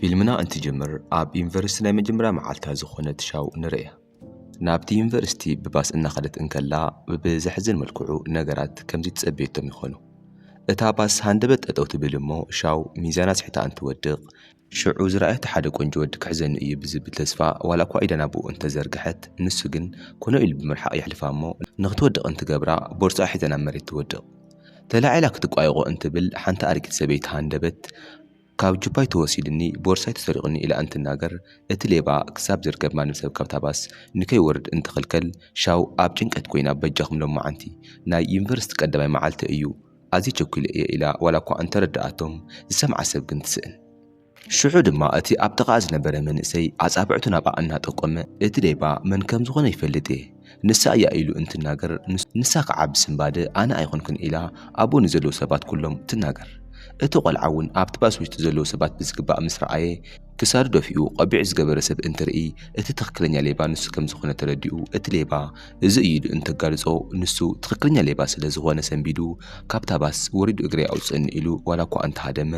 ፊልምና እንትጅምር ኣብ ዩኒቨርስቲ ናይ መጀመርያ መዓልታ ዝኾነት ሻው ንርእያ። ናብቲ ዩኒቨርስቲ ብባስ እናኸደት እንከላ ብዘሕዝን መልክዑ ነገራት ከምዚ ትጸበየቶም ይኾኑ። እታ ባስ ሃንደበት ጠጠው ትብል እሞ ሻው ሚዛን ኣስሒታ እንትወድቕ፣ ሽዑ ዝረኣየቶ ሓደ ቆንጆ ወዲ ክሕዘኒ እዩ ብዝብል ተስፋ ዋላኳ ኢዳ ናብኡ እንተዘርገሐት ንሱ ግን ኮነ ኢሉ ብምርሓቕ የሕልፋ እሞ ንኽትወድቕ እንትገብራ ቦርሳኣ ሒዛ ናብ መሬት ትወድቕ። ተላዒላ ክትቋየቖ እንትብል ሓንቲ ኣረጊት ሰበይቲ ሃንደበት ካብ ጁባይ ተወሲድኒ ቦርሳይ ተሰሪቑኒ ኢላ እንትናገር፣ እቲ ሌባ ክሳብ ዝርከብ ማንም ሰብ ካብታ ባስ ንከይወርድ እንትኽልከል ሻው ኣብ ጭንቀት ኮይና በጃኹም ሎማዓንቲ ናይ ዩኒቨርስቲ ቀዳማይ መዓልተይ እዩ ኣዝየ ቸኲለ እየ ኢላ ዋላኳ እንተረደኣቶም ዝሰምዓ ሰብ ግን ትስእን። ሽዑ ድማ እቲ ኣብ ጥቓኣ ዝነበረ መንእሰይ ኣጻብዕቱ ናብኣ እናጠቆመ እቲ ሌባ መን ከምዝኾነ ይፈልጥ እየ፣ ንሳ እያ ኢሉ እንትናገር ንሳ ከዓ ብስንባደ ኣነ ኣይኮንኩን ኢላ ኣብኡ ንዘለዉ ሰባት ኩሎም ትናገር። እቲ ቆልዓ እውን ኣብቲ ባስ ውሽጢ ዘለዉ ሰባት ብዝግባእ ምስ ረኣየ ክሳዱ ደፊኡ ቆቢዕ ዝገበረ ሰብ እንትርኢ እቲ ትኽክለኛ ሌባ ንሱ ከምዝኾነ ተረዲኡ እቲ ሌባ እዚ እዩ ኢሉ እንተጋልፆ ንሱ ትኽክለኛ ሌባ ስለዝኾነ ሰንቢዱ ካብታ ባስ ወሪዱ እግረይ ኣውፅእኒ ኢሉ ዋላኳ እንተሃደመ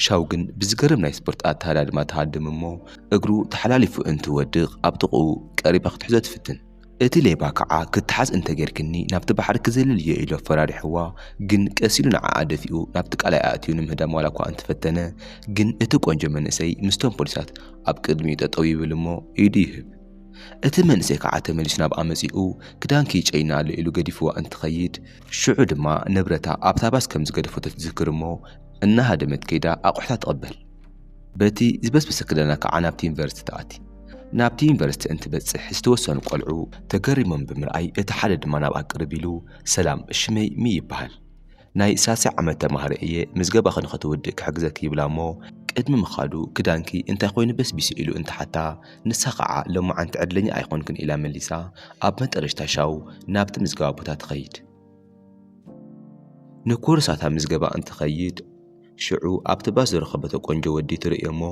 ሻው ግን ብዝገርም ናይ ስፖርት ኣተሃዳድማ ተሃድም እሞ እግሩ ተሓላሊፉ እንትወድቕ ኣብ ጥቕኡ ቀሪባ ክትሕዞ ትፍትን። እቲ ሌባ ካዓ ክተሓዝ እንተገይርክኒ ናብቲ ባሕሪ ክዝልል እየ ኢሉ ኣፈራሪሕዋ ግን ቀስ ኢሉ ንዓኣ ደፊኡ ናብቲ ቃላይ ኣእትዩ ንምህዳም ዋላኳ እንተፈተነ ግን እቲ ቆንጆ መንእሰይ ምስቶም ፖሊሳት ኣብ ቅድሚኡ ጠጠው ይብል እሞ ኢዱ ይህብ እቲ መንእሰይ ካዓ ተመሊሱ ናብኣ መፂኡ ክዳንኪ ይጨይና ኣሎ ኢሉ ገዲፍዋ እንትኸይድ ሽዑ ድማ ንብረታ ኣብታ ባስ ከምዝገደፎ ተትዝክር እሞ እናሃደመት ከይዳ ኣቑሑታ ትቕበል። በቲ ዝበስበሰ ክዳና ከዓ ናብቲ ዩኒቨርሲቲ ተኣቲ። ናብቲ ዩኒቨርሲቲ እንትበጽሕ ዝተወሰኑ ቆልዑ ተገሪሞም ብምርኣይ እቲ ሓደ ድማ ናብኣ ቅርብ ኢሉ ሰላም ሽመይ ሚ ይበሃል ናይ ሳልሳይ ዓመት ተማሃሪ እየ ምዝገባኺ ንኸተወድኢ ክሕግዘኪ ይብላ እሞ ቅድሚ ምኻዱ ክዳንኪ እንታይ ኮይኑ በስቢሱ ኢሉ እንትሓታ ንሳ ከዓ ሎማዓንቲ ዕድለኛ ኣይኾንክን ኢላ መሊሳ ኣብ መጠረሽታ ሻው ናብቲ ምዝገባ ቦታ ትኸይድ። ንኮርሳታ ምዝገባ እንትኸይድ ሽዑ ኣብቲ ባስ ዝረኸበቶ ቆንጆ ወዲ ትርእዮ እሞ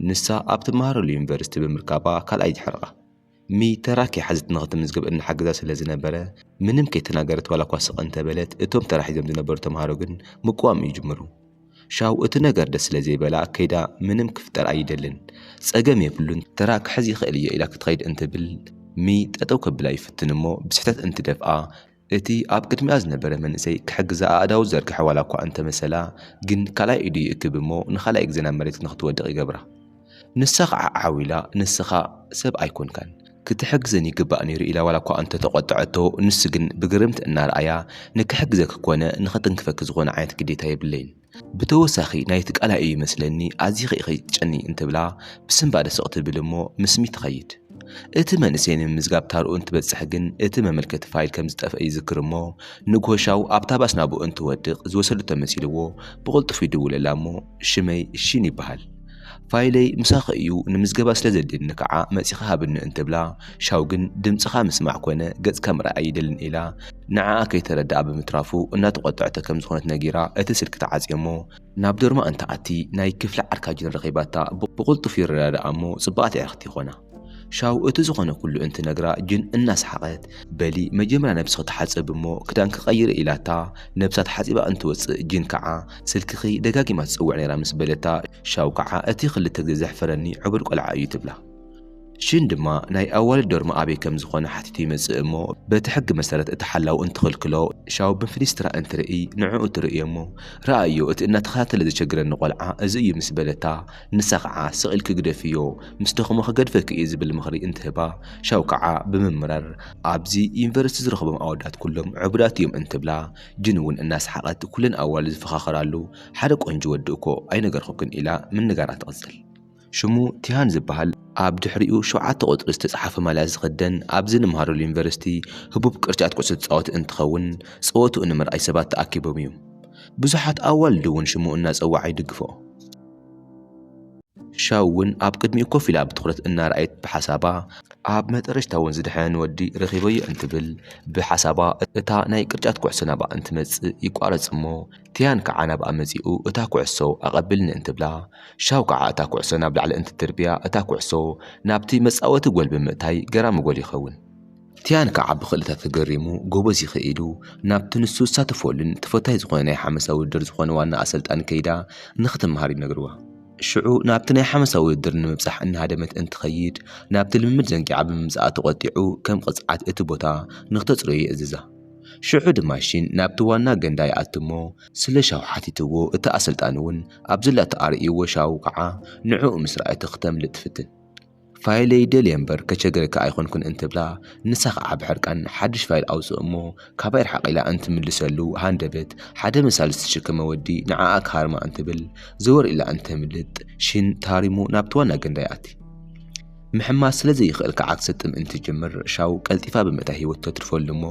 ንሳ ኣብ ትመሃረሉ ዩኒቨርሲቲ ብምርካባ ካልኣይ ድሕርኣ ሚ ተራ ከይሓዘት ንኽትምዝገብ እናሓገዛ ስለ ዝነበረ ምንም ከይተናገረት ዋላ እኳ ስቕ እንተበለት እቶም ተራ ሒዞም ዝነበሩ ተምሃሮ ግን ምቅዋም ይጅምሩ። ሻው እቲ ነገር ደስ ስለ ዘይበላ ከይዳ ምንም ክፍጠር ኣይደልን ጸገም የብሉን ተራ ክሕዝ ይኽእል እየ ኢላ ክትኸይድ እንትብል ሚ ጠጠው ከብላ ይፍትን እሞ ብስሕተት እንትደፍኣ እቲ ኣብ ቅድሚኣ ዝነበረ መንእሰይ ክሕግዛ ኣእዳዉ ዝዘርግሐ ዋላኳ እንተመሰላ ግን ካልኣይ ኢዱ ይእክብ እሞ ንኻልኣይ ግዜ ናብ መሬት ንኽትወድቕ ይገብራ። ንሳ ኸዓ ዓው ኢላ ንስኻ ሰብ ኣይኮንካን። ክትሕግዘኒ ይግባእ ነይሩ ኢላ ዋላኳ እንተተቖጠዐቶ ንሱ ግን ብግርምቲ እናረኣያ ንክሕግዘኪ ኮነ ንኽትንክፈኪ ዝኾነ ዓይነት ግዴታ የብለይን። ብተወሳኺ ናይቲ ቃላ ኢዩ መስለኒ ኣዚኺ ኢኺ ትጨንዪ እንትብላ ብስንባደ ስቕ ትብል እሞ ምስ ስሚት ትኸይድ። እቲ መንእሰይ ንምምዝጋብ ታርኡ እንትበጽሕ ግን እቲ መመልከቲ ፋይል ከም ዝጠፍአ ይዝክር እሞ ንግሆ ሻው ኣብታ ባስ ናብኡ እንትወድቕ ዝወሰደቶ መሲልዎ ብቕልጡፍ ይድውለላ እሞ ሽመይ ሺን ይበሃል። ፋይለይ ምሳኺ እዩ ንምዝገባ ስለ ዘድልየኒ ከዓ መጺኺ ሃብኒ እንትብላ ሻው ግን ድምጽኻ ምስማዕ ኮነ ገጽካ ምርኣይ ኣይደልን ኢላ ንዓኣ ከይተረድኣ ብምትራፉ እናተቖጠዐቶ ከም ዝኾነት ነጊራ እቲ ስልኪ ተዓጽዮ እሞ ናብ ዶርማ እንትኣቲ ናይ ክፍሊ ዓርካጅን ረኺባታ ብቕልጡፍ ይረዳድኣ እሞ ጽብቓት የዕርኽቲ ይኾና። ሻው እቲ ዝኾነ ኩሉ እንትነግራ ጅን እናሰሓቐት በሊ መጀመርያ ነብስኺ ተሓጸቢ እሞ ክዳንኪ ቀይሪ ኢላታ ነብሳ ተሓጺባ እንትወጽእ ጅን ከዓ ስልክኺ ደጋጊማ ትጽውዕ ነይራ ምስ በለታ ሻው ከዓ እቲ ክልተ ግዜ ዘሕፈረኒ ዕቡድ ቆልዓ እዩ ትብላ። ጅን ድማ ናይ ኣዋልድ ዶርሚ ኣበይ ከም ዝኾነ ሓቲቱ ይመጽእ እሞ በቲ ሕጊ መሰረት እቲ ሓላው እንትኽልክሎ ሻው ብፊሊስትራ እንትርእይ ንዕኡ ትርእዮ እሞ ርኣዮ እቲ እናተኸታተለ ዘቸግረኒ ቆልዓ እዚ እዩ ምስ በለታ ንሳ ኸዓ ስቕ ኢልኪ ግደፍዮ ምስ ደኸሞ ክገድፈኪ እዩ ዝብል ምኽሪ እንትህባ ሻው ከዓ ብምምራር ኣብዚ ዩኒቨርስቲ ዝረኽቦም ኣወዳት ኩሎም ዕቡዳት እዮም እንትብላ ጅን እውን እናሰሓቐት ኩለን ኣዋልድ ዝፈኻኸራሉ ሓደ ቆንጆ ወዲ እኮ ኣይነገርኹክን ኢላ ምንጋራ ትቕፅል። ሽሙ ቲሃን ዝበሃል ኣብ ድሕሪኡ ሸውዓተ ቁፅሪ ዝተፅሓፈ ማልያ ዝኽደን ኣብዚ ንምሃረሉ ዩኒቨርስቲ ህቡብ ቅርጫት ኩዕሶ ተፃወቲ እንትኸውን ፀወትኡ ንምርኣይ ሰባት ተኣኪቦም እዮም። ብዙሓት ኣዋልድ እውን ሽሙ እናፀወዓ ይድግፍኦ። ሻው'ውን ኣብ ቅድሚኡ ኮፍ ኢላ ብትኹረት እናረኣየት ብሓሳባ፣ ኣብ መጠረሽታ'ውን ዝደሓነ ወዲ ረኺበዮ እንትብል ብሓሳባ እታ ናይ ቅርጫት ኩዕሶ ናብኣ እንትመጽእ ይቋረጽ'ሞ ቲያን ከኣ ናብኣ መጺኡ እታ ኩዕሶ ኣቐብልኒ እንትብላ ሻው ከኣ እታ ኩዕሶ ናብ ላዕሊ እንትድርብያ እታ ኩዕሶ ናብቲ መጻወቲ ጎል ብምእታይ ገራሚ ጎል ይኸውን። ቲያን ከዓ ብኽእልታ ተገሪሙ ጎበዝ ይኸ ኢሉ ናብቲ ንሱ ዝሳተፈሉን ተፈታዊ ዝኾነ ናይ ሓመሳ ውድድር ዝኾነ ዋና ኣሰልጣኒ ከይዳ ንክትመሃር ይነግርዋ። ሽዑ ናብቲ ናይ ሓመሳ ውድድር ንምብፃሕ እናሃደመት እንትኸይድ ናብቲ ልምምድ ዘንጊዓ ብምምፅኣ ተቖጢዑ ከም ቕፅዓት እቲ ቦታ ንክተፅርዮ ይእዝዛ። ሽዑ ድማ ሺን ናብቲ ዋና ገንዳ ይኣቱ እሞ ስለ ሻው ሓቲትዎ እቲ ኣሰልጣኒ እውን ኣብ ዘላቶ ኣርእይዎ ሻው ከዓ ንዕኡ ምስ ረኣየቶ ክተምልጥ ትፍትን። ፋይለይ ደልየ እምበር ከቸግረካ ኣይኮንኩን እንትብላ ንሳ ከዓ ብሕርቃን ሓድሽ ፋይል ኣውፅእ እሞ ካባይ ርሓቕ ኢላ እንትምልሰሉ ሃንደበት ሓደ መሳሊ ዝተሸከመ ወዲ ንዓኣ ክሃርማ እንትብል ዘወር ኢላ እንተምልጥ ሽን ተሃሪሙ ናብቲ ዋና ገንዳ ይኣቲ። ምሕማስ ስለ ዘይኽእል ከዓ ክትሰጥም እንትጅምር ሻው ቀልጢፋ ብምእታይ ህይወቱ ተትርፈሉ እሞ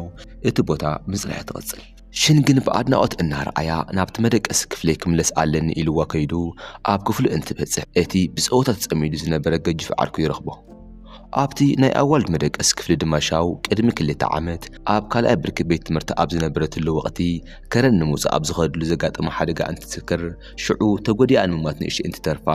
እቲ ቦታ ምፅራያ ትቕፅል። ሽን ግን ብኣድናቖት እናረኣያ ናብቲ መደቀሲ ክፍለይ ክምለስ ኣለኒ ኢሉዋ ከይዱ ኣብ ክፍሉ እንትበጽሕ እቲ ብጸወታ ተጸሚዱ ዝነበረ ገጁፍ ዓርኩ ይረኽቦ። ኣብቲ ናይ ኣዋልድ መደቀሲ ክፍሊ ድማ ሻው ቅድሚ ክልተ ዓመት ኣብ ካልኣይ ብርኪ ቤት ትምህርቲ ኣብ ዝነበረትሉ ወቕቲ ከረን ንምውጻእ ኣብ ዝኸደሉ ዘጋጠማ ሓደጋ እንትትዝክር ሽዑ ተጎዲኣ ንምሟት ንእሽተይ እንትተርፋ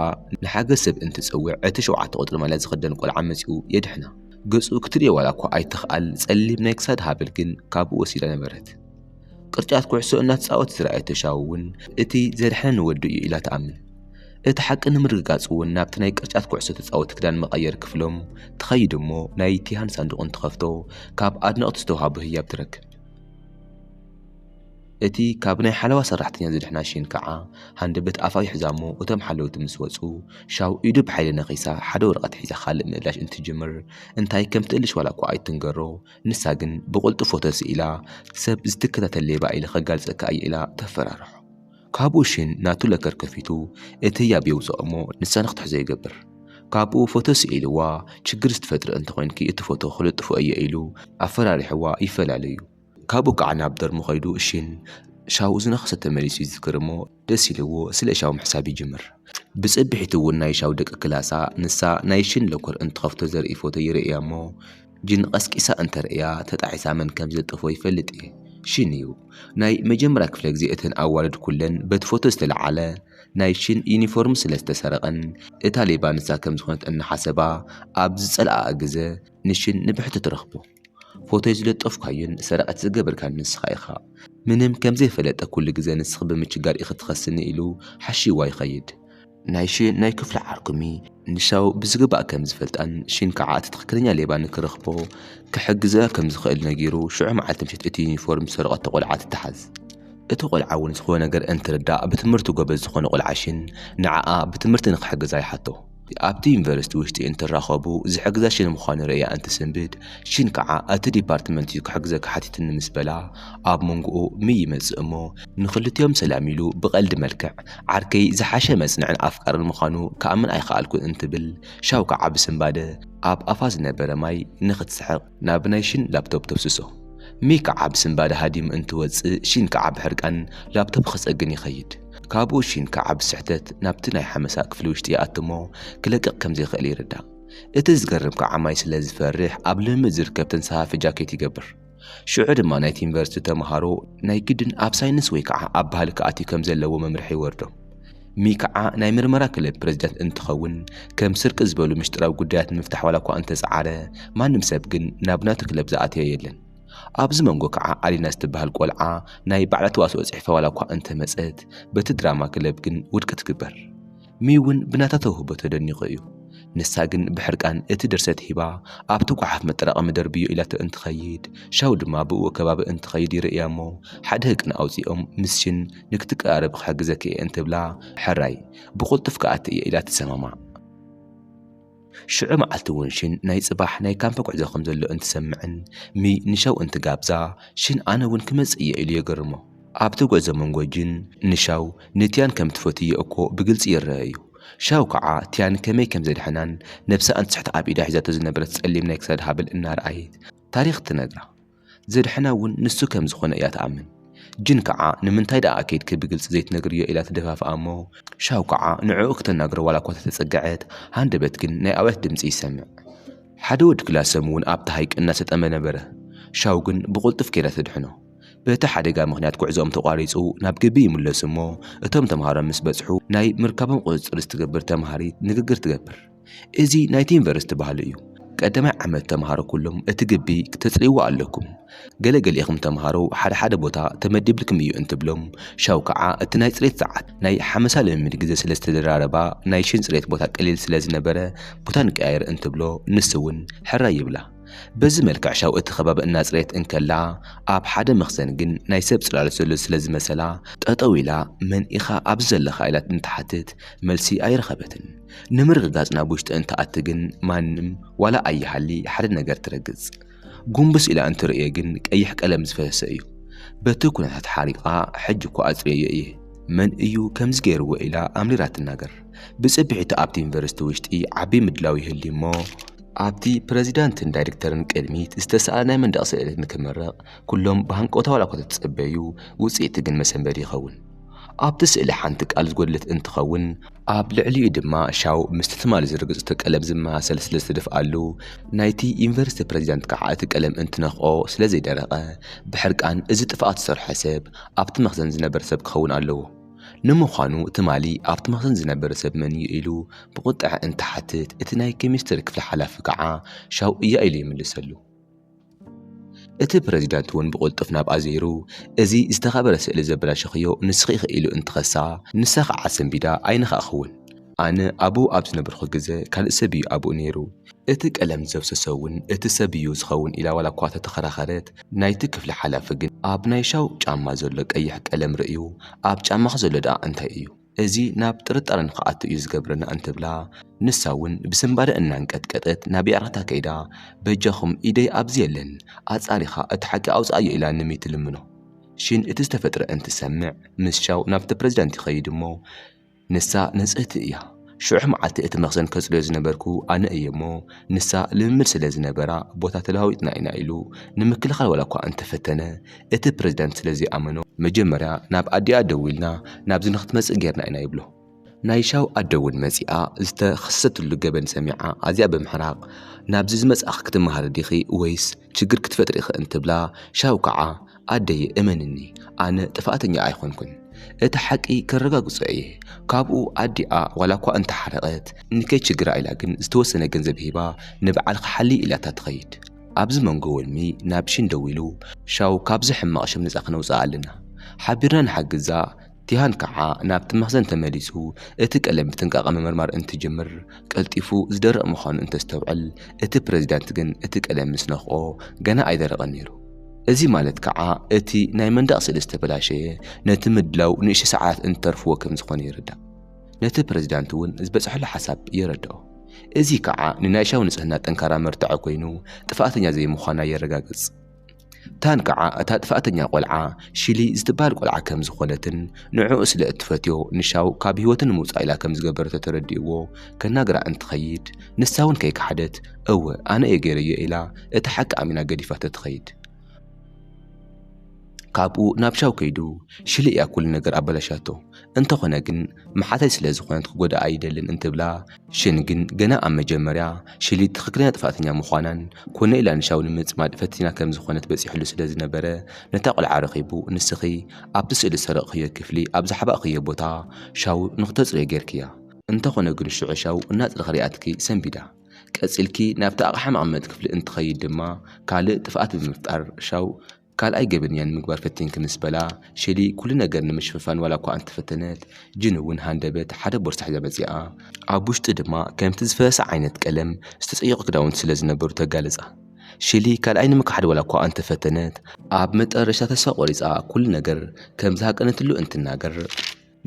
ንሓገዝ ሰብ እንትትጽውዕ እቲ ሸውዓተ ቁጽሪ ማልያ ዝኽደን ቆልዓ መጺኡ የድሕና። ገጹ ክትርእዮ ዋላ እኳ ኣይትኽኣል ጸሊም ናይ ክሳድ ሃብል ግን ካብኡ ወሲዳ ነበረት። ቅርጫት ኩዕሶ እናተጻወተ ዝረኣየቶ ሻው እውን እቲ ዘድሐነኒ ወዱ እዩ ኢላ ትኣምን። እቲ ሓቂ ንምርግጋጽ እውን ናብቲ ናይ ቅርጫት ኩዕሶ ተጻወቲ ክዳን መቐየሪ ክፍሎም ትኸይድ እሞ ናይ ቲሃን ሳንዱቕ እንትኸፍቶ ካብ ኣድነቕቱ ዝተዋህቦ ህያብ ትረክብ። እቲ ካብ ናይ ሓለዋ ሰራሕተኛ ዝድሕና ሺን ከኣ ሃንደበት ኣፋ ይሕዛ'ሞ እቶም ሓለውቲ ምስ ወጹ ሻው ኢዱ ብሓይሊ ነኺሳ ሓደ ወረቐት ሒዛ ካልእ ምእላሽ እንትትጅምር እንታይ ከም ትእልሽ ዋላ'ኳ ኣይትንገሮ ንሳ ግን ብቕልጡፍ ፎቶ ስኢላ ሰብ ዝትከታተል ሌባ ኢለ ከጋልጸካ እየ ኢላ ተፈራርሖ። ካብኡ ሺን ናቱ ለከር ከፊቱ እቲ ህያብ የውጽኦ'ሞ ንሳ ንኽትሕዞ ይገብር። ካብኡ ፎቶ ስኢልዋ ችግር ዝትፈጥሪ እንተኾይንኪ እቲ ፎቶ ክልጥፎ እየ ኢሉ ኣፈራሪሕዋ ይፈላለዩ። ካብኡ ከዓ ናብ ዶርሙ ከይዱ እሺን ሻውኡ ዝነኸሰ ተመሊሱ ይዝክር እሞ ደስ ኢልዎ ስለ ሻው ምሕሳብ ይጅምር። ብፅብሒቱ እውን ናይ ሻው ደቂ ክላሳ ንሳ ናይ ሺን ሎኮር እንትኸፍቶ ዘርኢ ፎቶ ይርእያ እሞ ጂን ቐስቂሳ እንተርእያ ተጣዒሳ መን ከም ዝልጠፎ ይፈልጥ እየ። ሺን እዩ። ናይ መጀመርያ ክፍለ ግዜ እተን ኣዋልድ ኩለን በቲ ፎቶ ዝተልዓለ ናይ ሺን ዩኒፎርም ስለ ዝተሰረቐን እታ ሌባ ንሳ ከም ዝኾነት እናሓሰባ ኣብ ዝፀልኣኣ ግዘ ንሽን ንብሕቲ ትረኽቦ ፎቶይ ዝለጠፍካዮን ሰረቐት ዝገበርካን ንስኻ ኢኻ ምንም ከምዘይፈለጠ ኩሉ ግዘ ንስኺ ብምችጋር ኢኺ ትኸስኒ ኢሉ ሓሽይዋ ይኸይድ ናይ ሽን ናይ ክፍሉ ዓርኩሚ ንሻው ብዝግባእ ከምዝፈልጣን ሽን ከዓ እቲ ትኽክለኛ ሌባ ንክረኽቦ ክሕግዘ ከምዝኽእል ነጊሩ ሽዑ መዓልቲ ምሸት እቲ ዩኒፎርም ዝሰረቐቶ ቆልዓ ትተሓዝ እቲ ቆልዓ እውን ዝኾነ ነገር እንትርዳእ ብትምህርቱ ጎበዝ ዝኾነ ቆልዓ ሽን ንዓኣ ብትምህርቲ ንክሕግዛ ይሓቶ። ኣብቲ ዩኒቨርሲቲ ውሽጢ እንትራኸቡ ዝሕግዛ ሽን ምዃኑ ርእያ እንትስንብድ፣ ሽን ከዓ እቲ ዲፓርትመንት እዩ ክሕግዘኪ ሓቲትኒ ምስ በላ ኣብ መንጎኡ ምይ ይመፅእ እሞ ንኽልቲኦም ሰላም ኢሉ ብቐልዲ መልክዕ ዓርከይ ዝሓሸ መፅንዕን ኣፍቃርን ምዃኑ ክኣምን ኣይኸኣልኩን እንትብል ሻው ከዓ ብስንባደ ኣብ ኣፋ ዝነበረ ማይ ንኽትስሕቕ ናብ ናይ ሽን ላፕቶፕ ተፍስሶ። ሚ ከዓ ብስንባደ ሃዲሙ እንትወፅእ ሺን ከዓ ብሕርቃን ላፕቶፕ ክፀግን ይኸይድ። ካብኡ ሺን ከዓ ብስሕተት ናብቲ ናይ ሓመሳ ክፍሊ ውሽጢ ይኣቱ'ሞ ክለቅቕ ከምዘይኽእል ይርዳእ። እቲ ዝገርም ከዓ ማይ ስለዝፈርሕ ኣብ ልምምድ ዝርከብ ተንሳፋፊ ጃኬት ይገብር። ሽዑ ድማ ናይቲ ዩኒቨርሲቲ ተምሃሮ ናይ ግድን ኣብ ሳይንስ ወይ ከዓ ኣብ ባህሊ ክኣትዩ ከምዘለዎ መምርሒ ይወርዶም። ሚክዓ ናይ ምርመራ ክለብ ፕረዚደንት እንትኸውን ከም ስርቂ ዝበሉ ምሽጥራዊ ጉዳያት ንምፍታሕ ዋላ እኳ እንተጸዓረ ማንም ሰብ ግን ናብ ናቱ ክለብ ዝኣተዮ የለን። ኣብዚ መንጎ ከዓ ኣሊና ዝትበሃል ቆልዓ ናይ ባዕላ ተዋስኦ ጽሒፋ ዋላ እኳ እንተመጸት በቲ ድራማ ክለብ ግን ውድቂ ትግበር። ሚዩ እውን ብናታ ተውህቦ ተደኒቑ እዩ። ንሳ ግን ብሕርቃን እቲ ድርሰት ሂባ ኣብቲ ጓሓፍ መጠራቐሚ ደርብዮ ኢላቶ እንትኸይድ ሻው ድማ ብእኡ ከባቢ እንትኸይድ ይርእያ እሞ ሓደ ህቅን ኣውጺኦም ምስ ሽን ንክትቀራረቢ ክሕግዘኪ እየ እንትብላ፣ ሕራይ ብቕልጡፍ ክኣቲ እየ ኢላ ትሰማማዕ። ሽዑ መዓልቲ እውን ሽን ናይ ጽባሕ ናይ ካምፕ ጉዕዞ ከም ዘሎ እንትሰምዕን ሚ ንሻው እንትጋብዛ፣ ሽን ኣነ እውን ክመጽእ እየ ኢሉ የገርሞ። ኣብቲ ጉዕዞ መንጎ ጂን ንሻው ንቲያን ከም እትፈትዮ እኮ ብግልጺ ይረኣ እዩ። ሻው ከዓ ቲያን ከመይ ከም ዘድሐናን ነብሳ እንትስሕት ኣብ ኢዳ ሒዛቶ ዝነበረት ጸሊም ናይ ክሳድ ሃብል እናርኣየት ታሪኽ ትነግራ። ዘድሐና እውን ንሱ ከም ዝኾነ እያ ትኣምን። ጂን ከዓ ንምንታይ ደኣ ከይድኪ ብግልፂ ዘይትነግርዮ ኢላ ትደፋፍኣ እሞ ሻው ከዓ ንዕኡ ክተናግሮ ዋላ እኳ ተተፀገዐት ሃንደበት ግን ናይ ኣውያት ድምፂ ይሰምዕ። ሓደ ወዲ ክላሶም እውን ኣብቲ ሃይቅ እናሰጠመ ነበረ። ሻው ግን ብቁልጡፍ ከይዳ ተድሕኖ። በቲ ሓደጋ ምኽንያት ጉዕዞኦም ተቋሪፁ ናብ ግቢ ይምለሱ እሞ እቶም ተምሃሮ ምስ በፅሑ ናይ ምርካቦም ቁፅፅር ዝትገብር ተምሃሪት ንግግር ትገብር። እዚ ናይቲ ዩኒቨርሲቲ ባህሊ እዩ። ቀዳማይ ዓመት ተምሃሮ ኩሎም እቲ ግቢ ክተጽርይዎ ኣለኩም። ገለ ገሊኢኹም ተምሃሮ ሓደ ሓደ ቦታ ተመዲብልኩም እዩ እንትብሎም፣ ሻው ከኣ እቲ ናይ ጽሬት ሰዓት ናይ ሓመሳ ልምምድ ግዜ ስለ ዝተደራረባ ናይ ሽን ጽሬት ቦታ ቀሊል ስለ ዝነበረ ቦታ ንቀያይር እንትብሎ ንስውን ሕራይ ይብላ። በዚ መልክዕ ሻው እቲ ከባቢ እናጽረየት እንከላ ኣብ ሓደ መኽዘን ግን ናይ ሰብ ጽላሎት ዘሎ ስለ ዝመሰላ ጠጠው ኢላ መን ኢኻ ኣብዚ ዘለኻ ኢላ እንትሓትት መልሲ ኣይረኸበትን። ንምርግጋጽ ናብ ውሽጢ እንትኣቲ ግን ማንም ዋላ ኣይሃሊ ሓደ ነገር ትረግጽ። ጉንብስ ኢላ እንትርእዮ ግን ቀይሕ ቀለም ዝፈሰሰ እዩ። በቲ ኩነታት ሓሪቓ ሕጂ እኮ ኣጽርየዮ እየ መን እዩ ከምዚ ገይርዎ ኢላ ኣምሪራ ትናገር። ብጽብሒቱ ኣብቲ ዩኒቨርሲቲ ውሽጢ ዓቢ ምድላው ይህሊ እሞ ኣብቲ ፕረዚዳንትን ዳይሬክተርን ቅድሚት ዝተሰኣለ ናይ መንደቕ ስእሊ ንክምረቕ ኩሎም ብሃንቀውታ ዋላ እኳ ተተጸበዩ ውጽኢቱ ግን መሰንበዲ ይኸውን። ኣብቲ ስእሊ ሓንቲ ቃል ዝጎደለት እንትኸውን ኣብ ልዕሊኡ ድማ ሻው ምስቲ ትማሊ ዝርገጸቶ ቀለም ዝመሳሰል ስለ ዝተደፍኣሉ ናይቲ ዩኒቨርሲቲ ፕረዚዳንት ከዓ እቲ ቀለም እንትነኽኦ ስለ ዘይደረቐ ብሕርቃን እዚ ጥፍኣት ዝሰርሖ ሰብ ኣብቲ መኽዘን ዝነበረ ሰብ ክኸውን ኣለዎ ንምዃኑ ትማሊ ኣብቲ መኽዘን ዝነበረ ሰብ መን እዩ ኢሉ ብቑጠዐ እንትሓትት እቲ ናይ ኬሚስትሪ ክፍሊ ሓላፊ ከዓ ሻው እያ ኢሉ ይምልሰሉ። እቲ ፕረዚዳንት እውን ብቕልጡፍ ናብኣ ዘይሩ፣ እዚ ዝተኸበረ ስእሊ ዘበላሸኽዮ ንስኺ ኢኺ ኢሉ እንትኸሳ፣ ንሳ ኸኣ ኣሰንቢዳ ኣይነኻእክውን፣ ኣነ ኣብኡ ኣብ ዝነበርኩ ግዘ ካልእ ሰብ እዩ ኣብኡ ነይሩ፣ እቲ ቀለም ዘፍሰሶ እውን እቲ ሰብ እዩ ዝኸውን ኢላ ዋላኳ ተተኸራኸረት፣ ናይቲ ክፍሊ ሓላፊ ግን ኣብ ናይ ሻው ጫማ ዘሎ ቀይሕ ቀለም ርእዩ፣ ኣብ ጫማኺ ዘሎ ደኣ እንታይ እዩ? እዚ ናብ ጥርጣረ ንክኣቱ እዩ ዝገብረና እንትብላ ንሳ ውን ብስንባደ እናንቀጥቀጠት ናብ ያታታ ከይዳ በጃኹም ኢደይ ኣብዚ የለን ኣፃሪኻ እቲ ሓቂ ኣውፀኣዮ ኢላ ንሚ ትልምኖ። ሺን እቲ ዝተፈጥረ እንትሰምዕ ምስ ሻው ናብቲ ፕረዚዳንት ይኸይድ እሞ ንሳ ንፅህቲ እያ ሽዑሕ መዓልቲ እቲ መኽዘን ከፅርዮ ዝነበርኩ ኣነ እየ እሞ ንሳ ልምምድ ስለዝነበራ ቦታ ተለዋዊጥና ኢና ኢሉ ንምክልኻል ዋላኳ እንተፈተነ እቲ ፕረዚደንት ስለ ዘይኣመኖ መጀመርያ ናብ ኣዲኣ ደዊልና ናብዚ ንኽትመጽእ ጌርና ኢና ይብሎ። ናይ ሻው ኣደ እውን መጺኣ ዝተኸሰሰትሉ ገበን ሰሚዓ ኣዝያ ብምሕራቕ ናብዚ ዝመጻእኺ ክትመሃሪ ዲኺ ወይስ ችግር ክትፈጥሪ ኢኺ እንትብላ ሻው ከዓ ኣደየ እመንኒ ኣነ ጥፍኣተኛ ኣይኮንኩን እቲ ሓቂ ከረጋግጾ እየ ካብኡ ኣዲኣ ዋላኳ እንተሓረቐት ንከይችግራ ኢላ ግን ዝተወሰነ ገንዘብ ሂባ ንበዓልኺ ሓልዪ ኢላታ ትኸይድ። ኣብዚ መንጎ ወልሚ ናብ ሺን ደዊሉ፣ ሻው ካብዚ ሕማቕ ሽም ነጻ ክነውጽኣ ኣለና። ሓቢርና ንሓግዛ። ቲሃን ከኣ ናብቲ መኽዘን ተመሊሱ እቲ ቀለም ብጥንቃቐ ምምርማር እንትጅምር፣ ቀልጢፉ ዝደርቕ ምዃኑ እንተስተውዕል፣ እቲ ፕረዚዳንት ግን እቲ ቀለም ምስ ነኽኦ ገና ኣይደረቐን ነይሩ። እዚ ማለት ከኣ እቲ ናይ መንደቕ ስእሊ ዝተበላሸየ ነቲ ምድላው ንእሽቶ ሰዓታት እንተርፍዎ ከም ዝኾነ ይርዳእ። ነቲ ፕረዚዳንት እውን ዝበጽሐሉ ሓሳብ የረድኦ። እዚ ከኣ ንናይ ሻው ንጽህና ጠንካራ መርትዖ ኮይኑ ጥፍኣተኛ ዘይምዃና የረጋግጽ። ታን ከኣ እታ ጥፍኣተኛ ቆልዓ ሺሊ ዝትበሃል ቆልዓ ከም ዝኾነትን ንዕኡ ስለ እትፈትዮ ንሻው ካብ ህይወቱ ንምውጻእ ኢላ ከም ዝገበረቶ ተረዲእዎ ከናግራ እንትኸይድ ንሳውን ከይከሓደት እወ ኣነ እየ ገይረዮ ኢላ እቲ ሓቂ ኣሚና ገዲፋቶ ትኸይድ። ካብኡ ናብ ሻው ከይዱ ሽል እያ ኩሉ ነገር ኣበላሻቶ እንተኾነ ግን መሓተይ ስለ ዝኾነት ክጎድኣ ኣይደልን እንትብላ ሽን ግን ገና ኣብ መጀመርያ ሽሊ ትኽክለኛ ጥፋተኛ ምዃናን ኮነ ኢላ ንሻው ንምጽማድ ፈቲና ከም ዝኾነት በጺሕሉ ስለ ዝነበረ ነታ ቆልዓ ረኺቡ ንስኺ ኣብቲ ስእሊ ዝሰረቕኽዮ ክፍሊ ኣብ ዝሓባእኽዮ ቦታ ሻው ንኽተጽርዮ ጌርክያ እንተኾነ ግን ሽዑ ሻው እናጽረኽ ሪኣትኪ ሰንቢዳ ቀጺልኪ ናብቲ ኣቕሓ መቐመጢ ክፍሊ እንትኸይድ ድማ ካልእ ጥፍኣት ብምፍጣር ሻው ካልኣይ ገበነኛ ንምግባር ፈቲንኪ ምስ በላ ሼሊ ኩሉ ነገር ንምሽፍፋን ዋላኳ እንተፈተነት ጂን እውን ሃንደበት ሓደ ቦርሳ ሒዛ መጺኣ ኣብ ውሽጡ ድማ ከምቲ ዝፈሰሰ ዓይነት ቀለም ዝተጸየቑ ክዳውንቲ ስለ ዝነበሩ ተጋለጻ። ሼሊ ካልኣይ ንምክሓድ ዋላኳ እንተፈተነት፣ ኣብ መጠረሽታ ተስፋ ቆሪጻ ኩሉ ነገር ከም ዝሃቀነትሉ እንትናገር፣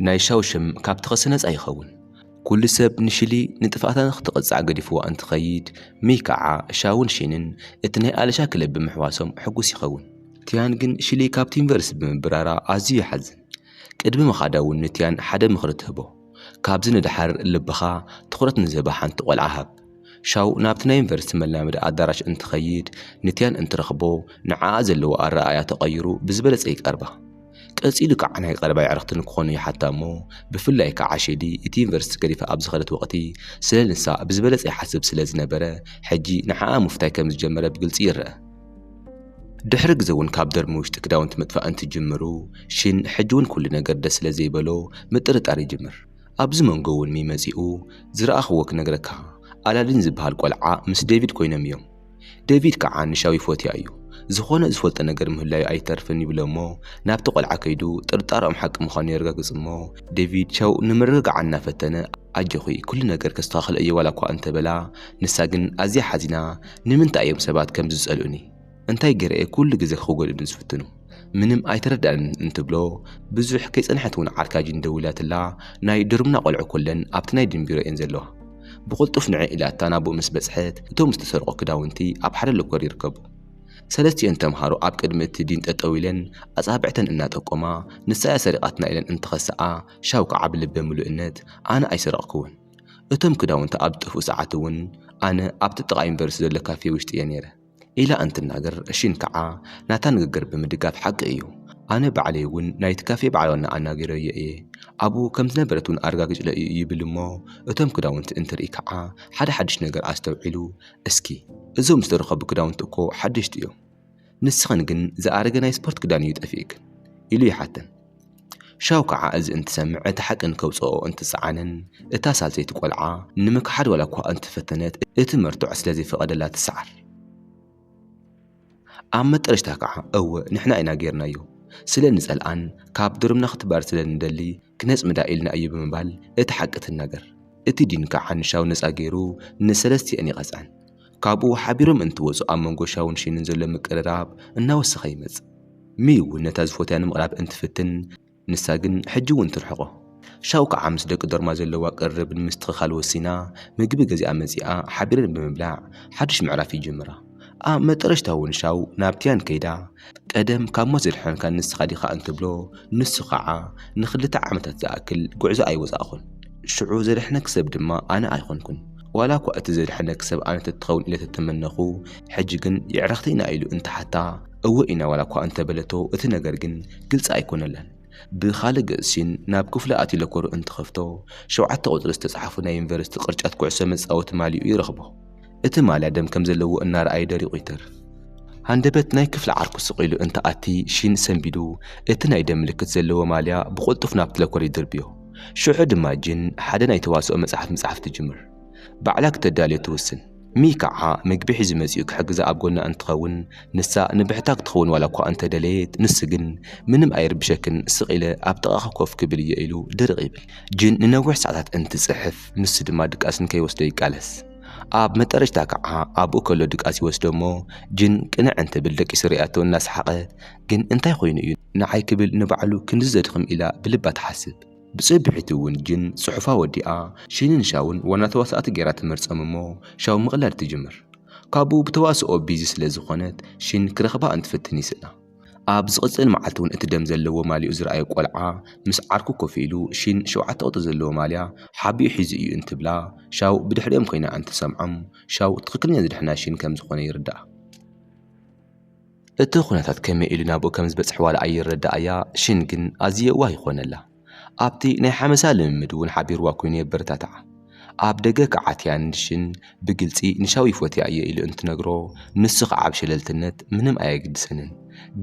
ናይ ሻው ሽም ካብ ተኸሲ ነጻ ይኸውን። ኩሉ ሰብ ንሽሊ ንጥፍኣታ ንክትቕጻዕ ገዲፍዋ እንትኸይድ፣ ሚይ ከኣ ሻውን ሺንን እቲ ናይ ኣለሻ ክለብ ብምሕዋሶም ሕጉስ ይኸውን። ቲያን ግን ሽሊ ካብቲ ዩኒቨርሲቲ ብምብራራ ኣዝዩ ይሓዝን። ቅድሚ ምኻዳ እውን ንቲያን ሓደ ምኽሪ ትህቦ፣ ካብዚ ንደሓር ልብኻ ትኹረት ንዝህባ ሓንቲ ቆልዓ ሃብ። ሻው ናብቲ ናይ ዩኒቨርሲቲ መላመዲ ኣዳራሽ እንትኸይድ ንቲያን እንትረኽቦ ንዓኣ ዘለዎ ኣረኣእያ ተቐይሩ ብዝበለፀ ይቀርባ። ቀፂሉ ከዓ ናይ ቀረባ የዕርኽቲ ንክኾኑ ይሓታ እሞ ብፍላይ ከዓ ሼዲ እቲ ዩኒቨርሲቲ ገዲፋ ኣብ ዝኸደት ወቕቲ ስለ ንሳ ብዝበለፀ ይሓስብ ስለ ዝነበረ ሕጂ ንዓኣ ምፍታይ ከም ዝጀመረ ብግልፂ ይረኣ። ድሕሪ ግዘ እውን ካብ ዶርሚ ውሽጢ ክዳውንቲ ምጥፋእ እንትጅምሩ ሽን ሕጂ እውን ኩሉ ነገር ደስ ስለ ዘይበሎ ምጥርጣር ይጅምር። ኣብዚ መንጎ እውን ሚ መጺኡ ዝረኣኽዎ ክነግረካ ኣላዲን ዝብሃል ቆልዓ ምስ ዴቪድ ኮይኖም እዮም ዴቪድ ከዓ ንሻው ይፎትያ እዩ ዝኾነ ዝፈልጦ ነገር ምህላዩ ኣይተርፍን ይብሎ እሞ ናብቲ ቆልዓ ከይዱ ጥርጣረኦም ሓቂ ምዃኑ የረጋግጽ እሞ ዴቪድ ሻው ንምርግጋዓ እናፈተነ ኣጆኺ ኩሉ ነገር ከስተኻኽሎ እየ ዋላኳ እንተበላ ንሳ ግን ኣዝያ ሓዚና ንምንታይ እዮም ሰባት ከምዚ ዝጸልኡኒ እንታይ ገይረ እየ ኩሉ ግዜ ክጎድእኒ ዝፍትኑ ምንም ኣይተረድኣንን እንትብሎ ብዙሕ ከይጸንሐት ውን ዓርካ ጂን ደዊላትላ ናይ ዶርምና ቆልዑ ኩለን ኣብቲ ናይ ዲን ቢሮ እየን ዘለዋ ብቅልጡፍ ንዐይ ኢላታ ናብኡ ምስ በጽሐት እቶም ዝተሰርቁ ክዳውንቲ ኣብ ሓደ ሎኮር ይርከቡ ሰለስቲኤን ተምሃሮ ኣብ ቅድሚ እቲ ዲን ጠጠው ኢለን ኣጻብዕተን እናጠቆማ ንሳ እያ ሰሪቃትና ኢለን እንትኸስኣ ሻው ከዓ ብልበ ምሉእነት ኣነ ኣይሰረቅክዎን እቶም ክዳውንቲ ኣብ ዝጠፍኡ ሰዓት ውን ኣነ ኣብቲ ጥቃ ዩኒቨርስቲ ዘሎ ካፌ ውሽጢ እየ ነይረ ኢላ እንትናገር ሺን ከዓ ናታ ንግግር ብምድጋፍ ሓቂ እዩ ኣነ ባዕለይ እውን ናይቲ ካፌ በዓል ዋና ኣናጊረዮ እየ ኣብኡ ከም ዝነበረት እውን ኣረጋጊፅለይ እዩ ይብል እሞ እቶም ክዳውንቲ እንትርኢ ከዓ ሓደ ሓዱሽ ነገር ኣስተውዒሉ እስኪ እዞም ዝተረከቡ ክዳውንቲ እኮ ሓደሽቲ እዮም ንስኽን ግን ዝኣረገ ናይ ስፖርት ክዳን እዩ ጠፊእክን ኢሉ ይሓተን። ሻው ከዓ እዚ እንትሰምዕ እቲ ሓቂ ንከውፀኦ እንትፀዓንን እታ ሳልሰይቲ ቆልዓ ንምክሓድ ዋላ እኳ እንተፈተነት እቲ መርትዖ ስለዘይፈቐደላ ትሰዓር። ኣብ መጠረሽታ ከዓ እወ ንሕና ኢና ገይርናዮ ስለ እንፀልኣን ካብ ዶርምና ክትባረር ስለ እንደሊ ክነፅምዳ ኢልና እዩ ብምባል እቲ ሓቂ ትናገር። እቲ ዲን ከዓ ንሻው ነፃ ገይሩ ንሰለስቲኣን ይቐፅዐን። ካብኡ ሓቢሮም እንትወጹ ኣብ መንጎ ሻውን ሺንን ዘሎ ምቅርራብ እናወሰኸ ይመጽእ። ሚይ እውን ነታ ዝፎትያ ንምቕራብ እንትፍትን ንሳ ግን ሕጂ እውን ትርሕቖ። ሻው ከዓ ምስ ደቂ ዶርማ ዘለዋ ቅርርብ ንምስትኽኻል ወሲና ምግቢ ገዚኣ መጺኣ ሓቢረን ብምብላዕ ሓድሽ ምዕራፍ ይጅምራ። ኣብ መጠረሽታ እውን ሻው ናብ ቲያን ከይዳ ቀደም ካብ ሞት ዘድሐንካ ንስኻ ዲኻ እንትብሎ ንሱ ኸዓ ንኽልተ ዓመታት ዝኣክል ጉዕዞ ኣይወፃእኹን ሽዑ ዘድሐነኪ ሰብ ድማ ኣነ ኣይኾንኩን ዋላ እኳ እቲ ዘድሐነኪ ሰብ ኣነ ተትኸውን ኢለ ተተመነኹ ሕጂ ግን የዕርኽቲ ኢና ኢሉ እንትሓታ እወ ኢና ዋላ እኳ እንተበለቶ እቲ ነገር ግን ግልፂ ኣይኮነላን። ብኻልእ ገፅ ሲን ናብ ክፍሉ ኣትዩ ለኮሩ እንትኸፍቶ ሸውዓተ ቁፅሪ ዝተፅሓፉ ናይ ዩኒቨርሲቲ ቅርጫት ኩዕሶ መፃወቲ ማሊኡ ይረኽቦ። እቲ ማልያ ደም ከም ዘለዎ እናረኣዩ ደሪቑ ይተርፍ። ሃንደበት ናይ ክፍሊ ዓርኩ ስቕ ኢሉ እንትኣቲ ሺን ሰንቢዱ እቲ ናይ ደም ምልክት ዘለዎ ማልያ ብቕልጡፍ ናብቲ ለኮር ይድርብዮ። ሽዑ ድማ ጂን ሓደ ናይ ተዋስኦ መፅሓፍ ምፅሓፍ ትጅምር። ባዕላ ክተዳልዮ ትውስን። ሚሂ ካዓ ምግቢ ሒዙ መፂኡ ክሕግዛ ኣብ ጎና እንትኸውን ንሳ ንብሕታ ክትኸውን ዋላኳ እንተደለየት ንሱ ግን ምንም ኣይርብሸክን ስቅ ኢለ ኣብ ጥቃኪ ኮፍ ክብል እየ ኢሉ ድርቅ ይብል። ጅን ንነዊሕ ሰዓታት እንትፅሕፍ ንሱ ድማ ድቃስ ንከይወስዶ ይቃለስ። ኣብ መጠረሽታ ካዓ ኣቡኡ ከሎ ድቃስ ይወስዶ እሞ ጅን ቅንዕ እንትብል ደቂሱ ሪኣቶ እናሰሓቀት ግን እንታይ ኾይኑ እዩ ናዓይ ክብል ንባዕሉ ክንድዚ ዘድኽም ኢላ ብልባ ትሓስብ። ብጽብሒቱ ውን ጅን ጽሑፋ ወዲኣ ሺንን ሻውን ዋና ተዋሳእቲ ጌራ ትመርጸም እሞ ሻው ምቕላድ ትጅምር። ካብኡ ብተዋስኦ ቢዚ ስለ ዝኾነት ሺን ክረኽባ እንትፍትን ይስእና። ኣብ ዝቕጽል መዓልቲ ውን እቲ ደም ዘለዎ ማልይኡ ዝረኣየ ቆልዓ ምስ ዓርኩ ኮፍ ኢሉ ሺን ሸውዓተ ቁጽሪ ዘለዎ ማልያ ሓቢኡ ሒዙ እዩ እንትብላ ሻው ብድሕሪኦም ኮይና እንትትሰምዖም ሻው ትኽክለኛ ዝደሕና ሺን ከም ዝኾነ ይርድኣ። እቲ ኩነታት ከመይ ኢሉ ናብኡ ከም ዝበጽሕ ዋላ ኣይረደኣያ፣ ሺን ግን ኣዝዩ የዋህ ይኾነላ። ኣብቲ ናይ ሓመሳ ልምምድ እውን ሓቢርዋ ኰይኑ የበረታትዓ። ኣብ ደገ ክዓትያ ንሺን ብግልጺ ንሻው ይፎትያ እየ ኢሉ እንትነግሮ፣ ንሱ ኸኣ ብሸለልትነት ምንም ኣየግድሰንን፣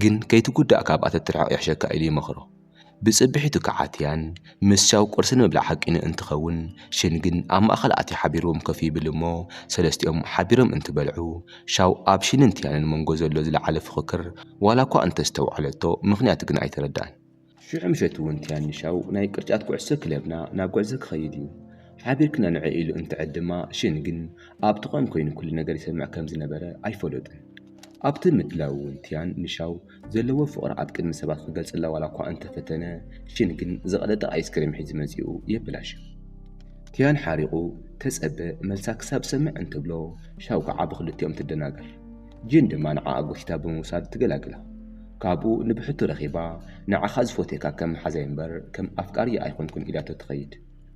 ግን ከይትጉዳእ ካብኣ ተትርሕቕ ይሕሸካ ኢሉ ይመኽሮ። ብጽብሒቱ ክዓትያን ምስ ቻው ቁርሲ ንምብላዕ ሓቂኑ እንትኸውን ሽን ግን ኣብ ማእኸል ኣትዩ ሓቢርዎም ኮፍ ይብል እሞ ሰለስቲኦም ሓቢሮም እንትበልዑ ሻው ኣብ ሽንን ትያንን መንጎ ዘሎ ዝለዓለ ፉኽክር ዋላኳ እንተስተውዓለቶ ምኽንያቱ ግን ኣይተረድኣን። ሽዑ ምሸት እውን ትያን ንሻው ናይ ቅርጫት ኩዕሶ ክለብና ናብ ጉዕዞ ክኸይድ እዩ ሓቢርክና ንዑ ኢሉ እንትዕድ ድማ ሽን ግን ኣብ ጥቕኦም ኮይኑ ኩሉ ነገር ይሰምዕ ከም ዝነበረ ኣይፈለጡን። ኣብቲ ምድላው እውን ትያን ንሻው ዘለዎ ፍቕሪ ኣብ ቅድሚ ሰባት ክገልጽላ ዋላኳ እንተፈተነ፣ ሺን ግን ዝቐለጠ ኣይስክሬም ሒዙ መጺኡ የበላሹ። ቲያን ሓሪቑ ተጸበ መልሳ ክሳብ ዝሰምዕ እንትብሎ፣ ሻው ከኣ ብኽልቲኦም ትደናገር። ጂን ድማ ንዓኣ ጎቲታ ብምውሳድ ትገላግላ። ካብኡ ንብሕቱ ረኺባ፣ ንዓኻ ዝፎትየካ ከም መሓዛይ'ምበር ከም ኣፍቃሪይ ኣይኮንኩን ኢላቶ ትኸይድ።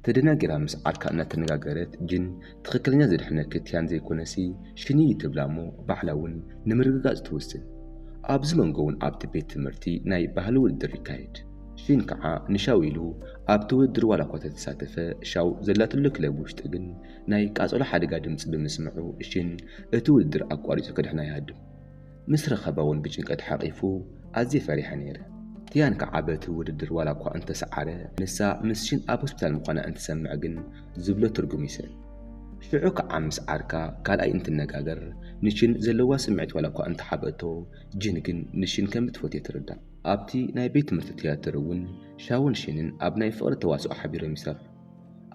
ተደናጊራ ምስ ዓርካ እናተነጋገረት ጅን ትኽክለኛ ዘድሕነኪ ቲያን ዘይኮነሲ ሽኒ እዩ ትብላ እሞ ባዕላ እውን ንምርግጋፅ ትውስን። ኣብዚ መንጎ እውን ኣብቲ ቤት ትምህርቲ ናይ ባህሊ ውድድር ይካየድ። ሺን ከዓ ንሻው ኢሉ ኣብቲ ውድድር ዋላ እኳ ተተሳተፈ ሻው ዘላትሉ ክለብ ውሽጢ ግን ናይ ቃፀሎ ሓደጋ ድምፂ ብምስምዑ ሺን እቲ ውድድር ኣቋሪፁ ከድሕና ይሃድም። ምስ ረኸባ እውን ብጭንቀት ሓቚፉ፣ ኣዝየ ፈሪሐ ነይረ። ቲያን ክኣ በቲ ውድድር ዋላ እኳ እንተ ሰዓረ፣ ንሳ ምስ ሺን ኣብ ሆስፒታል ምዃና እንትሰምዕ ግን ዝብሎ ትርጉም ይስእን። ሽዑ ክኣ ምስ ዓርካ ካልኣይ እንትነጋገር ንሺን ዘለዋ ስምዒት ዋላ እኳ እንተ ሓብአቶ፣ ጂን ግን ንሺን ከም እትፈትዮ ትርዳእ። ኣብቲ ናይ ቤት ትምህርቲ ትያትር እውን ሻውን ሺንን ኣብ ናይ ፍቕሪ ተዋስኦ ሓቢሮም ይሰርሑ።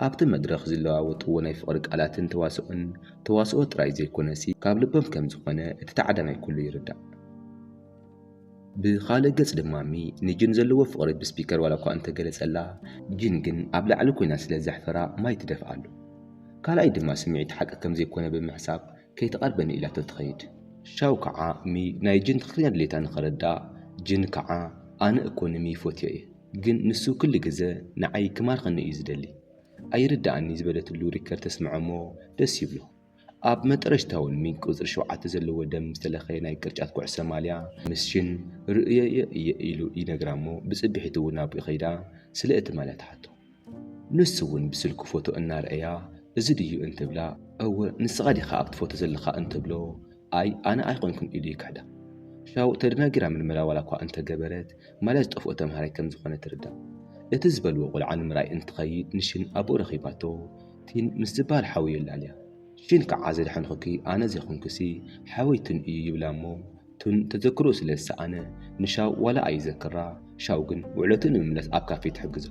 ኣብቲ መድረኽ ዝለዋወጥዎ ናይ ፍቕሪ ቃላትን ተዋስኦን፣ ተዋስኦ ጥራይ ዘይኮነሲ ካብ ልቦም ከም ዝኾነ እቲ ተዓዳማይ ኩሉ ይርዳእ። ብኻልእ ገጽ ድማ ሚ ንጂን ዘለዎ ፍቕሪ ብስፒከር ዋላኳ እንተገለጸላ፣ ጂን ግን ኣብ ላዕሊ ኮይና ስለ ዘሕፈራ ማይ ትደፍኣሉ። ካልኣይ ድማ ስምዒት ሓቂ ከም ዘይኮነ ብምሕሳብ ከይትቐርበኒ ኢላቶ ትኸይድ። ሻው ከዓ ሚ ናይ ጂን ትኽክለኛ ድሌታ ንኽርዳእ፣ ጂን ከዓ ኣነ እኮ ንሚ ይፎትዮ እየ። ግን ንሱ ክሉ ግዘ ንዓይ ክማርኸኒ እዩ ዝደሊ ኣይርደኣኒ ዝበለትሉ ሪከር ተስምዐሞ ደስ ይብሎ ኣብ መጠረሽታውን ሚግ ቁፅሪ ሸውዓተ ዘለዎ ደም ዝተለኸየ ናይ ቅርጫት ኩዕሶ ማልያ ምስ ሽን ርእየዮ እየ ኢሉ ይነግራሞ ብፅብሒትውን ናብኡ ከይዳ ስለ እቲ ማልያ ትሓቶ ንሱ'ውን ብስልኩ ፎቶ እናርኣያ እዚ ድዩ እንትብላ እወ ንስኻ ዲኻ ኣብቲ ፎቶ ዘለኻ እንትብሎ ኣይ ኣነ ኣይኮንኩን ኢሉ ይክሕዳ። ሻው ተደናጊራ ምርመራ ዋላ'ኳ እንተገበረት ማልያ ዝጠፍኦ ተምሃራይ ከምዝኾነ ትርዳእ። እቲ ዝበልዎ ቆልዓ ንምርኣይ እንትኸይድ ንሺን ኣቡኡ ረኺባቶ ቲን ምስ ዝበሃል ሓው የላልያ። ሺን ከዓ ዘድሓንኹኪ ኣነ ዘይኮንኩሲ ሓወይ ቲን እዩ ይብላ'ሞ ቱን ተዘክርኡ ስለ ዝሰኣነ ንሻው ዋላ ኣይዘክራ ሻው ግን ውዕለቱ ንምምላስ ኣብ ካፌ ትሕግዞ።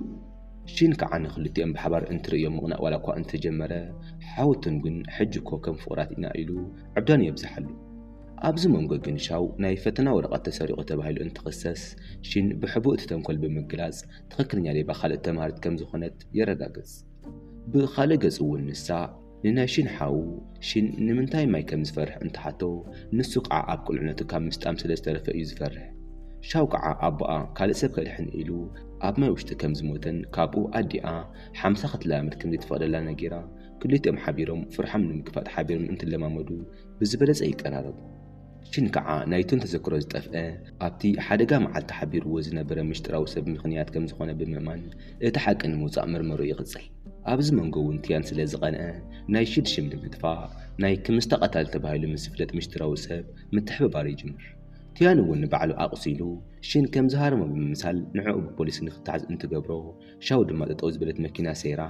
ሺን ከኣ ንኽልቲኦም ብሓባር እንትርእዮም ምቕናእ ዋላኳ እንተጀመረ ሓው ቱን ግን ሕጂ'ኮ ከም ፍቑራት ኢና ኢሉ ዕብዳኑ የብዝሓሉ። ኣብዚ መንጎ ግን ሻው ናይ ፈተና ወረቐት ተሰሪቑ ተባሂሉ እንትኽሰስ ሺን ብሕቡእ እቲ ተንኮል ብምግላጽ ትኽክለኛ ሌባ ካልኦት ተምሃሪት ከም ዝኾነት የረጋግጽ። ብኻልእ ገጽ'ውን ንሳ። ንናይ ሺን ሓው፣ ሺን ንምንታይ ማይ ከም ዝፈርሕ እንትሓቶ፣ ንሱ ክዓ ኣብ ቁልዕነቱ ካብ ምስጣም ስለ ዝተረፈ እዩ ዝፈርሕ። ሻው ክዓ ኣቦኣ ካልእ ሰብ ከድሕን ኢሉ ኣብ ማይ ውሽጢ ከም ዝሞተን ካብኡ ኣዲኣ ሓምሳ ክትለማመድ ከም ዘይተፈቕደላ ነጊራ ክልቲኦም ሓቢሮም ፍርሖም ንምግፋጥ ሓቢሮም እንትለማመዱ ብዝበለፀ ይቀራረቡ። ሽን ከኣ ናይቶም ተዘክሮ ዝጠፍኣ ኣብቲ ሓደጋ መዓልቲ ሓቢርዎ ዝነበረ ምሽጥራዊ ሰብ ምኽንያት ከም ዝኾነ ብምእማን እቲ ሓቂ ንምውጻእ ምርመርኡ ይቕጽል። ኣብዚ መንጎ'ውን ትያን ስለ ዝቐንኣ ናይ ሽድ ሽም ንምጥፋእ ናይ ክምስ ተቐታሊ ተባሂሉ ምስ ዝፍለጥ ምሽጥራዊ ሰብ ምትሕብባር ይጅምር። ትያን'ውን ንባዕሉ ኣቑሲሉ ሽን ከም ዝሃረሞ ብምምሳል ንዕኡ ብፖሊስ ንኽተሓዝ እንትገብሮ ሻው ድማ ጠጠው ዝበለት መኪና ሰይራ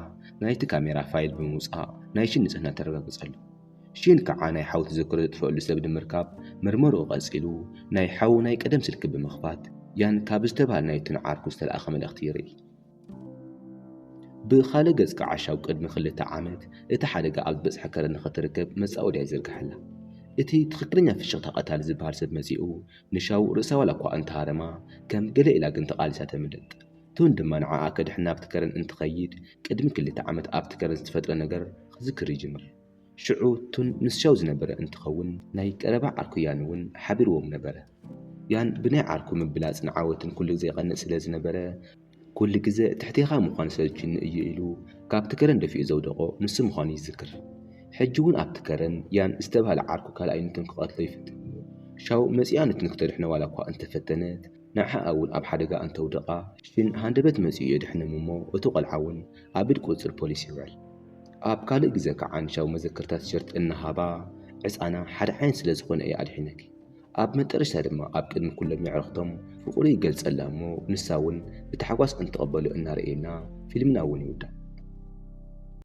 ናይቲ ካሜራ ፋይል ብምውጻእ ናይ ሽን ንጽህና ተረጋግጸሉ። ሺል ከኣ ናይ ሓው ትዝክሮ ዘጥፈኣሉ ሰብ ንምርካብ ምርመርኡ ቀጺሉ ናይ ሓው ናይ ቀደም ስልኪ ብምኽፋት ያን ካብ ዝተባህለ ናይቲ ንዓርኩ ዝተላእከ መልእኽቲ ይርኢ። ብኻልእ ገጽ ከኣ ሻው ቅድሚ ክልተ ዓመት እቲ ሓደጋ ኣብ ዝበጽሐ ከረን ንኽትርከብ መጻወድያ ይዝርግሓላ። እቲ ትኽክለኛ ፍሽኽታ ቀታሊ ዝበሃል ሰብ መጺኡ ንሻው ርእሳ ዋላኳ እንተሃረማ ከም ገለ ኢላ ግን ተቓሊሳ ተምልጥ። ቱን ድማ ንዓኣ ከድሕን ናብቲ ከረን እንትኸይድ ቅድሚ ክልተ ዓመት ኣብቲ ከረን ዝተፈጥረ ነገር ክዝክር ይጅምር። ሽዑ ቱን ምስ ሻው ዝነበረ እንትኸውን ናይ ቀረባ ዓርኩ ያን እውን ሓቢርዎም ነበረ። ያን ብናይ ዓርኩ ምብላጽን ዓወትን ኩሉ ግዘ ይቐንእ ስለ ዝነበረ ኩሉ ግዘ ትሕቴኻ ምዃን ሰልችዩኒ እዩ ኢሉ ካብቲ ከረን ደፊኡ ዘውደቖ ንሱ ምዃኑ ይዝክር። ሕጂ እውን ኣብቲ ከረን ያን ዝተብሃለ ዓርኩ ካልኣይ ንቱን ክቐትሎ ይፍትን እዩ። ሻው መጺኣ ንቱን ክተድሕኖ ዋላኳ እንተፈተነት፣ ንዓኣ ውን ኣብ ሓደጋ ኣንተውድቓ ሽን ሃንደበት መጺኡ የድሕንም እሞ እቱ ቆልዓ ውን ኣብ እድ ቁጽጽር ፖሊስ ይውዕል። ኣብ ካልእ ግዘ ክዓ ንሻው መዘከርታ ቲሸርት እናሃባ ዕጻና ሓደ ዓይነት ስለ ዝኾነ እየ ኣድሒነኪ። ኣብ መጠረሽታ ድማ ኣብ ቅድሚ ኩሎም የዕርኽቶም ፍቕሩ ይገልጸላ እሞ ንሳ ውን ብታሕጓስ እንትቕበሎ እናረኤና ፊልምና ውን ይውዳእ።